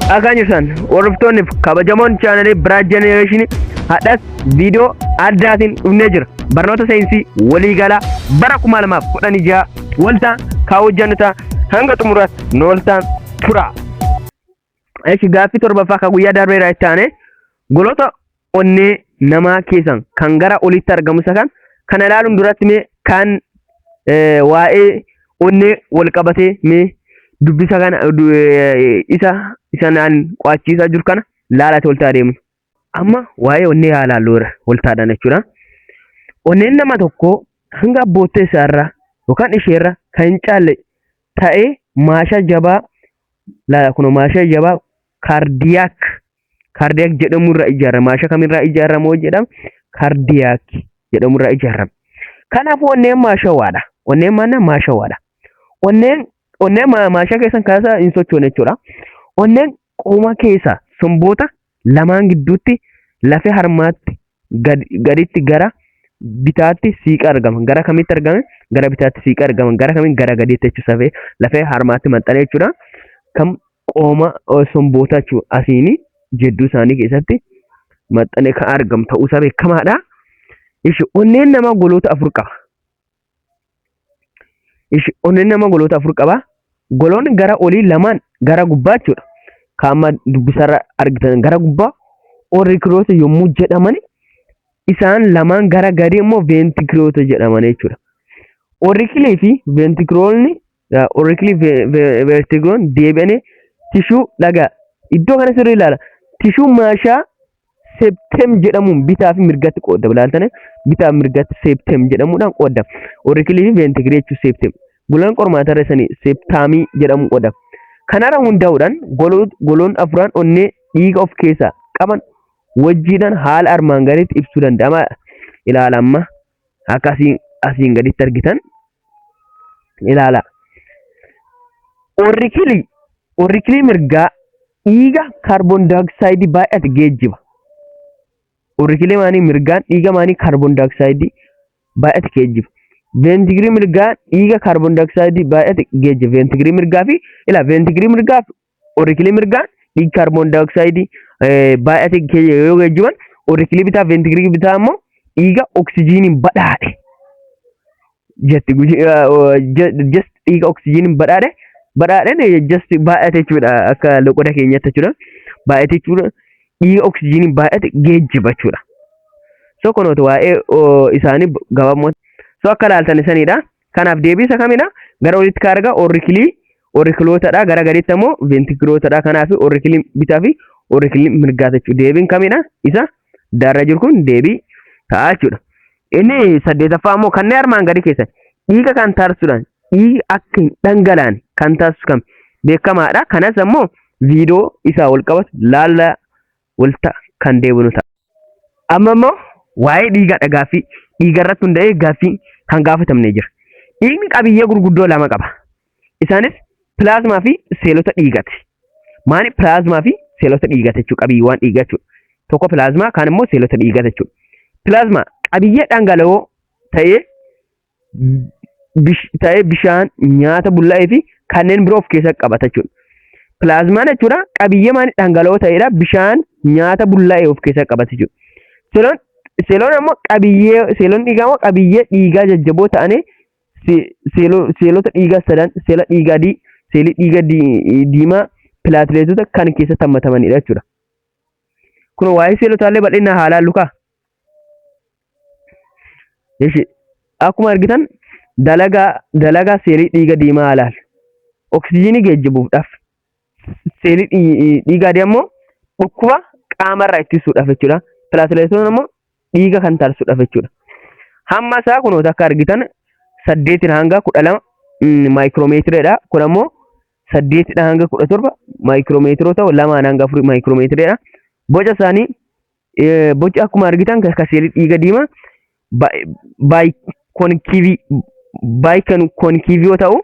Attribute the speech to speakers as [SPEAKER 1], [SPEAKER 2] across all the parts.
[SPEAKER 1] Dhagaa jirtan hordoftoonni kabajamoon chaanalii Biraat Jenereeshinii hadhas viidiyoo addaatiin dhufnee jira. Barnoota saayinsii waliigalaa bara 2016 waltaan kaa hojjannu ta'a hanga xumuraatti nu waltaan tura. Eshi gaaffii torbaffaa ka guyyaa darbee irraa itti aanee goloota onnee namaa keessan kan gara olitti argamu isa kan kana ilaaluun duratti mee kan waa'ee onnee wal qabatee mee dubbisa kana isa isanaan qo'achiisaa jiru kana laalate oltaa adeemu. Amma waa'ee onnee haa ilaallu irra oltaadhaan jechuudha. Onneen nama tokko hanga abboottee isaarra yookaan isheerra kan hin caalle ta'ee maashaa jabaa laala kun maasha jabaa kaardiyaak kaardiyaak jedhamu irraa ijaarama maasha kamirraa ijaarama hoo jedham kaardiyaak jedhamu irraa ijaarama kanaaf onneen maashawaadha onneen maanna maashawaadha onneen onneen ma- maashaa keessan kaasaa hin sochoone jechuudha onneen qooma keessaa somboota lamaan gidduutti lafee harmaatti gad, gaditti gara bitaatti siiqa argama. Gara kamitti argame? Gara bitaatti siiqa argama. Gara kamiin gara gadiitti jechuun safee lafee harmaatti maxxanee jechuudha. Kan qooma sombootaa jechuudha. Asiini jidduu isaanii keessatti maxxanee kan argamu ta'uusaa beekamaadha. Ishi onneen namaa goloota afur qaba. Ishi onneen nama goloota afur qaba. Goloonni gara olii lamaan gara gubbaa jechuudha. Kan amma dubbisarra argitan gara gubbaa orikiroosa yommuu jedhaman isaan lamaan gara gadii immoo veentikiroota jedhaman jechuudha. Orikilii fi veentikiroonni Yaa orikli vertigon deebi'anii tishuu dhagaa iddoo kana sirrii ilaala. Tishuu maashaa septem jedhamuun bitaa fi mirgatti qoodda. Bilaaltane bitaa fi mirgatti septem jedhamuudhaan qoodda. Orikilii fi ventigilee jechuun septem. Golaan qormaataa irra isanii septaamii jedhamuun qoodda. Kanarra hundaa'uudhaan goloon goloon afuraan onnee dhiiga of keessaa qaban wajjiidhaan haala armaan gadiitti ibsuu danda'ama. Ilaala amma akka asiin asiin gaditti argitan ilaala. Orikilii orikilii mirgaa dhiiga kaarboon daayooksaayidii baay'ate geejjiba. Orikilii maanii mirgaan dhiiga maanii kaarboon daayooksaayidii baay'ate geejjiba. Veentigirii mirgaa dhiiga kaarboon daayooksaayidii baay'ate geejjiba. Veentigirii mirgaa fi ilaa veentigirii mirgaa fi Orikilii mirgaa dhiig kaarboon daayooksaayidii baay'ate yoo geejjiban orikilii bitaa veentigilii bitaa immoo dhiiga oksijiiniin badhaadhe. Jesti just dhiiga oksijiiniin badhaadhe badhaadhen just baay'ate jechuudha akka loqoda keenyatti jechuudha. Baay'ate jechuudha dhiiga oksijiiniin baay'ate geejjiba jechuudha. So kunooti waa'ee isaanii gabaabumatti so akka ilaaltan isanidha. Kanaaf deebiisa kamidha? Gara olitti kan argaa orikilii orikilootadha. Gara gadiitti ammoo veentikilootadha. Kanaaf orikiliin bitaa fi orikiliin mirgaa jechuudha. Deebiin kamidha? Isa daarra jiru kun deebii ta'a jechuudha. Inni saddeetaffaa ammoo kanneen armaan gadii keessan dhiiga kan taasisuudhaan dhiigi akka hin dhangalaan kan taasisu kam beekamaadha. Kanas ammoo viidiyoo isaa wal qabatu laalla walta kan deebinu ta'a. Amma immoo waa'ee dhiigaadha gaaffii dhiiga irratti hunda'ee gaaffii kan gaafatamne jira. Dhiigni qabiyyee gurguddoo lama qaba. Isaanis pilaazmaa fi seelota dhiigati. Maali pilaazmaa fi seelota dhiigata jechuudha qabiyyeewwan dhiigaa jechuudha. Tokko pilaazmaa kaan immoo seelota dhiigata jechuudha. Pilaazmaa qabiyyee dhangala'oo ta'ee ta'ee bishaan, nyaata bullaa'ee fi kanneen biroo of keessatti qabata jechuudha. Pilaazmaan jechuudha qabiyyee maanii dhangala'oo ta'edha. Bishaan, nyaata bullaa'ee of keessatti qabata jechuudha. Seeloon seeloon ammoo qabiyyee seeloon dhiigaa ammoo qabiyyee dhiigaa jajjaboo ta'anii seelota dhiigaa sadan seela dhiigaa adii, seelii dhiigaa diimaa, pilaatileetota kan keessatti hammatamanidha jechuudha. Kun waa'ee seelotaallee bal'inaan haa ilaallu kaa. Ishi akkuma argitan dalagaa dalagaa seelii dhiiga diimaa alaal oksijiinii geejjibuudhaaf seelii dhii- dhiiga adii ammoo dhukkuba qaamarraa ittisuudhaaf jechuudha. Pilaatileetoon ammoo dhiiga kan taasisuudhaaf jechuudha. Hamma isaa kunoota akka argitan saddeetiin hanga kudha lama maayikiroomeetireedha. Kun ammoo saddeetidha hanga kudha torba maayikiroomeetiroota lamaan hanga afurii maayikiroomeetireedha. Boca isaanii boci akkuma argitan ka seelii dhiiga diimaa baayikoonkiivii yoo ta'u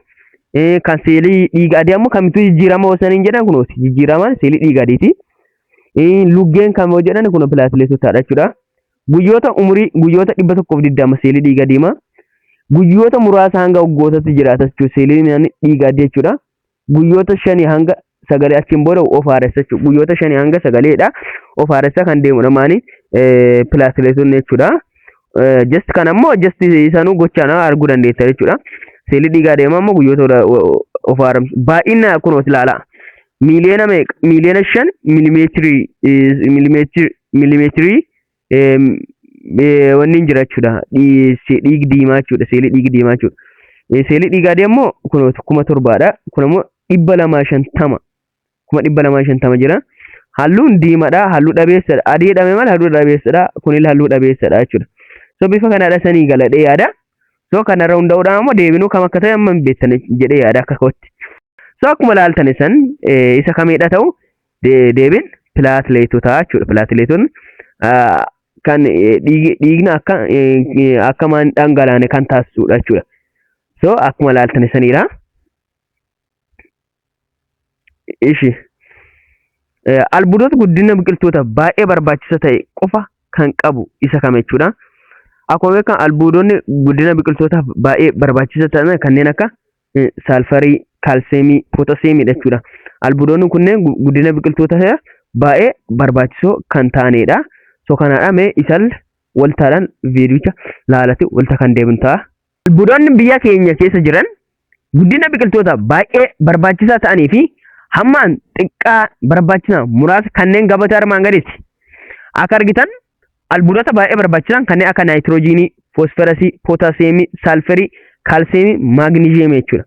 [SPEAKER 1] kan seelii dhiiga adii ammoo kamittuu jijjiirama osaniin jedhan kunooti jijjiirama seelii dhiiga adiiti. Luggeen kan yoo jedhan kun pilaatileetotaadha jechuudha. Guyyoota umurii guyyoota dhibba tokkoof digdama seelii dhiiga diimaa guyyoota muraasa hanga waggootatti jiraata jechuudha seeliin dhiiga adii jechuudha. guyyoota shanii hanga sagalee achiin booda of haaressa jechuudha. Guyyoota shanii hanga sagaleedha. Of haaressa kan deemudha maani pilaatileetonni jechuudha. Just kan ammoo just isaanuu gochaan arguu dandeetta jechuudha. Seelii dhiigaa deema ammoo guyyoota of haaramsu. Baay'ina kun of ilaala. Miiliyoona meeqa? Miiliyoona shan milimeetirii milimeetirii wanniin jira jechuudha. Dhiig diimaa jechuudha. Seelii dhiig diimaa jechuudha. Seelii dhiigaa deemmoo kun kuma torbaadha. Kun ammoo dhibba lamaa shantama. Kuma dhibba lamaa shantama jira. Halluun diimadha. Halluu dhabeessadha. Adii jedhame malee halluu dhabeessadha. Kunillee halluu dhabeessadha jechuudha. So bifa kanaadha sanii galadhee yaada. So kanarra hundaa'uudhaan ammoo deebinuu kam akka ta'e amma hin beektan jedhee yaada akka kootti. So akkuma laaltan isan isa kamiidha ta'u deebiin pilaatileetotaa jechuudha. Pilaatileetonni kan dhiigni akka akka maan dhangalaane kan taasisudha jechuudha. So akkuma ilaaltan isaniidha. Ishi albuudota guddina biqiltoota baay'ee barbaachisa ta'e qofa kan qabu isa kam jechuudha. Akkuma beekamu albuudonni guddina biqiltootaaf baay'ee barbaachisa ta'an kanneen akka saalfarii, kaalseemii, pootaseemiidha jechuudha. Albuudoonni kunneen guddina biqiltoota baay'ee barbaachisoo kan ta'anidha. So kanaadha mee isaan waltaadhaan viidiyicha laalati walta kan deebiin ta'a. Albuudoonni biyya keenya keessa jiran guddina biqiltoota baay'ee barbaachisaa ta'anii fi hammaan xiqqaa barbaachisa muraasa kanneen gabatee armaan gadiiti. Akka argitan albuudota baay'ee barbaachisan kanneen akka naayitiroojiinii, foosferasii, pootaasiyeemii, saalferii, kaalsiyeemii, maagniziyeemii jechuudha.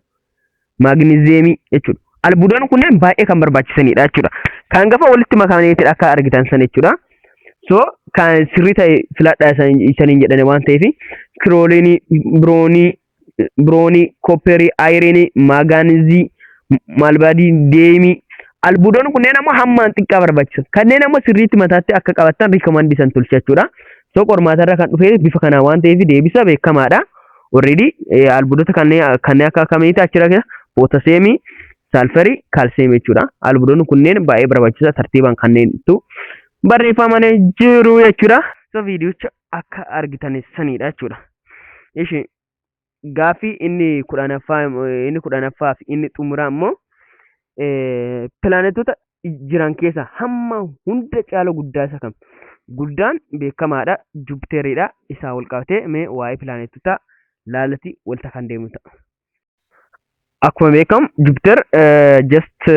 [SPEAKER 1] Maagniziyeemii jechuudha. Albuudonni kunneen baay'ee kan barbaachisanidha jechuudha. Kan gafa walitti makameetidha akka argitan san jechuudha. So kan sirrii ta'e filadha isaniin jedhani waan ta'eef kirooliinii, biroonii, biroonii, kopperii, ayireenii, maagaanizii, maalbaadii, deemii. Albuudonni kunneen ammoo hammaan xiqqaa barbaachisu. Kanneen ammoo sirriitti mataatti akka qabattan rikoomandii san tolcha jechuudha. So qormaatarra kan dhufe bifa kanaa waan ta'eef deebisa beekamaadha. Already albuudota kanneen kanneen akka akkamiiti achirra keessa pootaseemii, saalfarii, kaalsiyeemii jechuudha. Albuudonni kunneen baay'ee barbaachisaa tartiibaan kanneentu barreeffamanii jiru jechuudha. So viidiyocha akka argitan sanidha jechuudha. Ishi gaaffii inni kudhanaffaa inni kudhanaffaa fi inni xumuraa immoo pilaanetoota jiran keessaa hamma hunda caala guddaa isa kam? Guddaan beekamaadha Jupiteridha isaa wal qabatee mee waa'ee pilaanetoota laalati walta kan deemu ta'a. Akkuma beekamu Jupiter just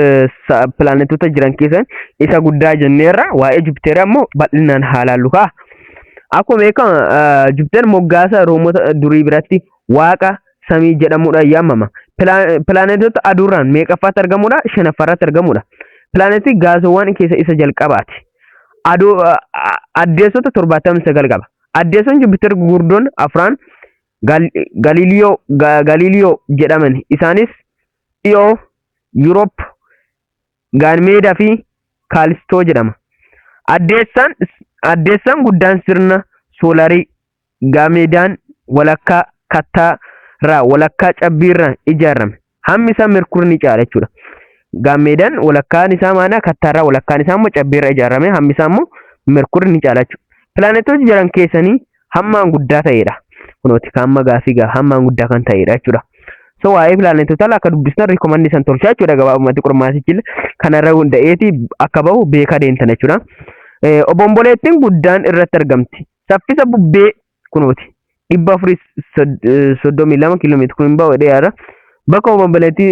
[SPEAKER 1] pilaanetoota jiran keessaa isa guddaa jenneerra waa'ee Jupiter ammoo bal'inaan haalaallu ka'a. Akkuma beekamu Jupiter moggaasa Roomota durii biratti waaqa samii jedhamuudhaan yaamama. Pilaanetoota aduurraan meeqaffaatti argamudha? Shanaffaarratti argamudha. Pilaanetii gaasowwan keessa isa jalqabaati. Addeessota torbaatamii sagal qaba. Addeessoon Jupiter gurguddoon afraan Galiliyoo, Galileo, jedhaman. Isaanis Dhiyoo, Europe, Gaanmeeda fi Kaalistoo jedhama. Addeessaan, Addeessaan guddaan sirna soolarii Gaanmeedaan walakkaa kattaa irraa walakkaa cabbii irraa ijaarame. Hammi isaa merkurii ni caala jechuudha. Gaammeedaan walakkaan isaa maanaa kattaarraa walakkaan isaa immoo cabbiirra ijaarame hammi isaa immoo merkurii ni caala jechuudha. Pilaanetoota jiran keessanii hammaan guddaa ta'edha. Kunooti hamma gaafii gaa hammaan guddaa kan ta'edha jechuudha. So waa'ee pilaanetootaa akka dubbistan rikoomandii san tolchaa jechuudha gabaabumatti qormaatichi kanarra hunda'eeti akka bahu beekaa deemtan jechuudha. Obomboleettiin guddaan irratti argamti. Saffisa bubbee kunooti dhibba afurii soddomii lama kiiloomeetira kun hin bahu jedhee yaada. Bakka uumama balaliitti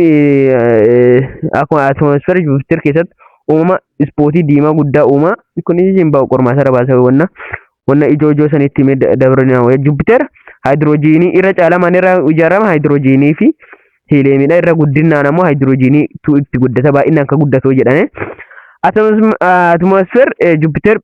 [SPEAKER 1] akkuma atmosfeera Jupiter keessatti uumama ispootii diimaa guddaa uuma kunis hin bahu qormaata irra baasa wanna wanna ijoo ijoo sanitti himee dabarina Jupiter haayidiroojiinii irra caalaa maal irraa ijaarama haayidiroojiinii fi hiileemidha irra guddinaan ammoo haayidiroojiinii tu itti guddata baay'inaan akka guddatu jedhame. Atmosfeer Jupiter